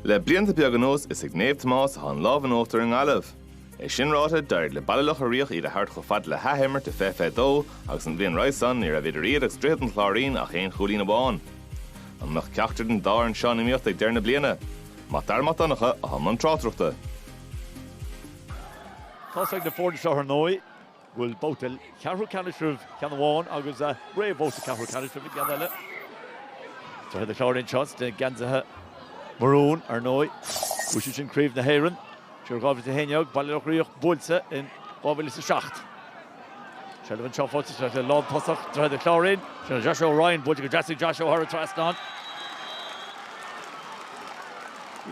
Le blianta beaga anuas is ag Naomh Tomás atá an lámh in uachtar i nGaillimh. É sin ráite, d'éirigh le Baile Locha Riach iad a thabhairt chomh fada le hathimirt i 2022 agus an bhliain roimhe sin ní raibh idir iad agus Droichead an Chláirín ach aon chúilín amháin. An mbeadh ceachtar den dá fhoireann seo in iomaíocht ag deireadh na bliana? Mac Dara Mac Donncha atá i mbun tráchtaireachta. Tá a fhios ag na foirne seo ar ndóigh go bhfuil babhta ceathrú ceannais roimh cheann amháin agus réamhbhabhta ceathrú ceannais roimh an gceann eile. Droichead an Chláirín seo, sna geansaithe marún, ar ndóigh, bhuaigh siad sin Craobh na hÉireann. Siar i 2011, Baile Locha Riach buailte in 2007. Seilbh anseo fós ag an lántosach, Droichead an Chláirín. Sin Joshua Ryan buailte go deas ag Joshua thar an trasnán.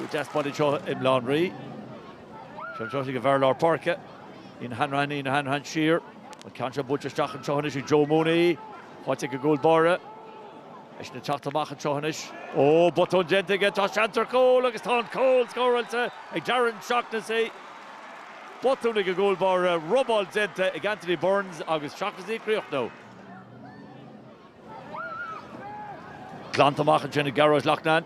Deas baile anseo i mBleán Rí. Sin Josh ag an bhfear lár páirce. Ian Hanrahan, Ian Hanrahan siar, an ceann seo buailte isteach anseo anois ag Joe Mooney, faighte ag an gcúl báire. Eisean ag teacht amach anseo anois. Ó, botún déanta aige, tá seans ar chúl agus tá an cúl scóráilte ag Darren Shaughnessy. Botún ag an gcúl báire, robáil déanta ag Anthony Burns agus Shaughnessy ag críochnú. Glanta amach ansin ag Gearóid Loughnane.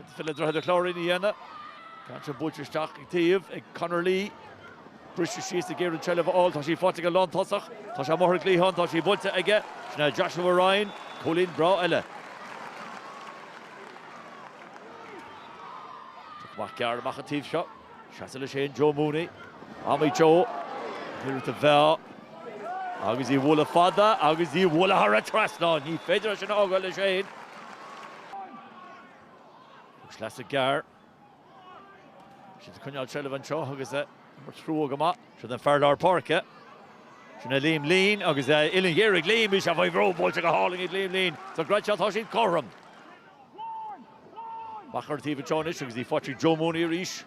Céard is féidir le Droichead an Chláirín a dhéanamh an ceann seo buailte isteach ón taobh ag Conor Lee. Briste síos ag iarraidh an tseilbh a fháil. Tá sí faighte ag an lántosach. Tá sé amuigh ar an gcliathán. Tá sí buailte aige. Sin é Joshua Ryan, cúilín breá eile. Amach gearr amach an taobh seo. Seasamh leis féin Joe Mooney. Am ag Joe. Iarracht a mheá. Agus í a bhualadh fada agus í a bhualadh thar an trasnán. Ní féidir é sin a fhágáil leis féin. Poc sleasa gearr. Tá siad ag coinneáil an tseilbh anseo agus é imeartha go maith. Sin é an fear lár páirce. Sin é Liam Leen agus uillinn ghéar ag Liam. Bhí sé faoi bhrú buailte go hálainn ag Liam Leen. Sa gcreat seo tá siad cothrom. Amach ar an taobh anseo anois agus í faighte ag Joe Mooney arís.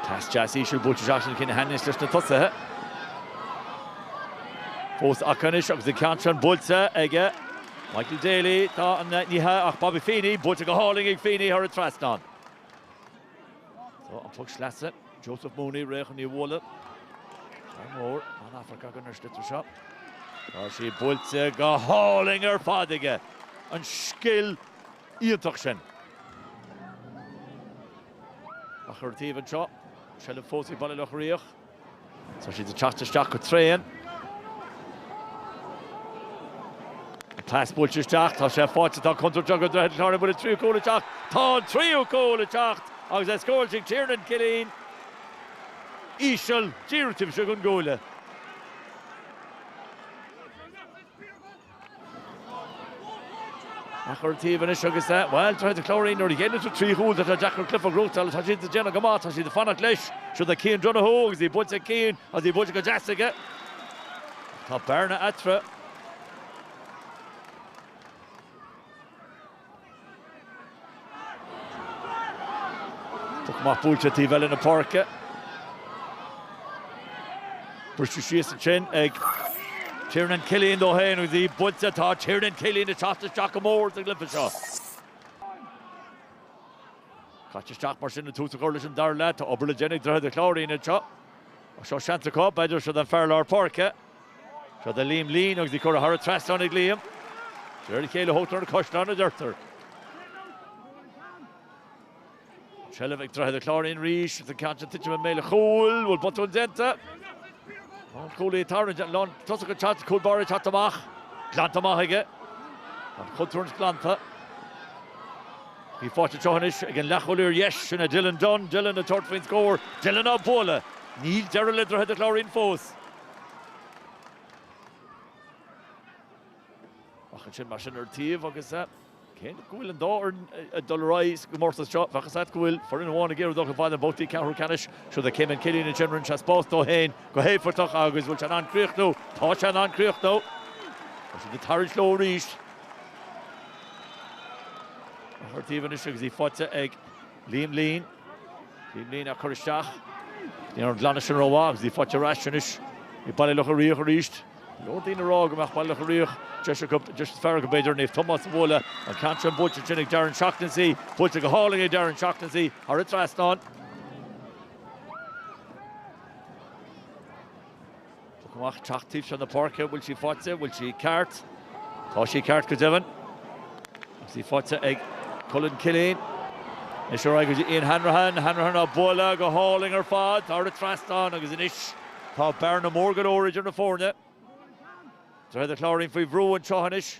Pas deas íseal buailte isteach ansin chun cinn anois leis na tosaithe. Fós acu anois agus an ceann sin buailte ag Michael Daly tá ní hea ach Bobby Feeney buailte go hálainn ag Feeney thar an trasnán. Tá an poc sleasa, Joseph Mooney réidh chun í a bhualadh. Seans mór, tá an-amharc againn ar an sliotar seo. Tá sí buailte go hálainn ar fad aige. An scil iontach sin. Amach ar an taobh anseo, seilbh fós ag Baile Locha Riach. Tá siad ag teacht isteach go tréan. An pas buailte isteach, tá sé faighte, tá contúirt do Dhroichead an Chláirín an bhfuil an tríú cúl ag teacht? Tá an tríú cúl ag teacht agus é scóráilte ag Tiernan Killeen. Íseal, díreach taobh istigh den gcuaille. Ach ar an taobh anois agus é, bhuel, Droichead an Chláirín nuair a dhéanann tú trí chúl, tá sé deacair cluiche a ghnóthachtáil, tá siad ag déanamh go maith, tá siad ag fanacht leis, siúd é Cian Donoghue agus í buailte ag Cian agus í buailte go deas aige, tá bearna eatarthu. Poc amach buailte ar taobh eile na páirce. Briste síos ansin ag Tiernan Killeen dó féin agus í buailte. Tá Tiernan Killeen ag teacht isteach go mór sa gcluiche seo. Caite isteach mar sin agus tús á chur leis an dara leath. Tá obair le déanamh ag Droichead an Chláirín anseo. Ach seo seans acu, b'fhéidir, seo don fear lár páirce. Seo do Liam Leen agus í curtha thar an trasnán ag Liam. De réir a chéile a thógtar na caisleáin, a deirtear. An tseilbh ag Droichead an Chláirín arís agus an ceann sin ag titim i mbéal an chúil. Bhfuil botún déanta. Lánchúlaí ag tarraingt, lántosaí ag teacht, cúl báire ag teacht amach. Glanta amach aige. An chontúirt sin glanta. Í faighte anseo anois ag an leathchúlaí ar dheis, sin é Dylan Dunne. Dylan ag tabhairt faoin scór. Dylan á bualadh. Níl deireadh le Droichead an Chláirín fós. Ach ansin, mar sin ar taobh agus cé go bhfuil an dá fhoireann ag dul ar aghaidh sa gcomórtas seo, bheadh 'fhios a't go bhfuil foireann amháin ag iarraidh dul chomh fada le babhtaí ceathrú ceannais. Siúd é Caimin Killeen ansin, rinne sé spás dó féin go héifeachtach agus bhfuil sé in ann críochnú? Tá sé in ann críochnú. Tá siad ag tarraingt leo arís. Ar taobh anois agus í faighte ag. Liam Leen. Liam Leen á cur isteach. Ní raibh an glanadh sin rómhaith agus í faighte ar ais anois ag Baile Locha Riach arís. Go leor daoine ag rá go mbeadh Baile Locha Riach deis acu, deis is fearr acu b'fhéidir, Naomh Tomás a bhualadh. An ceann sin buailte ansin ag Darren Shaughnessy. Buailte go hálainn ag Darren Shaughnessy thar an trasnán. Poc amach, teacht taobh seo na páirce, an bhfuil sí faighte, an bhfuil sí ceart? Tá sí ceart go deimhin agus í faighte ag Cullen Killeen. Anois ar aghaidh go dtí Ian Hanrahan, Hanrahan á bualadh go hálainn ar fad, thar an trasnán agus anois tá bearna mór go leor idir na foirne. Droichead an Chláirín faoi bhrú anseo anois.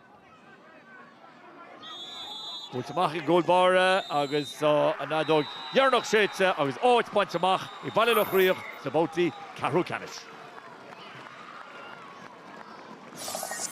Buailte amach ag an gcúl báire agus tá an fheadóg dheireanach séidte agus áit bainte amach ag Baile Locha Riach sna babhtaí ceathrú ceannais.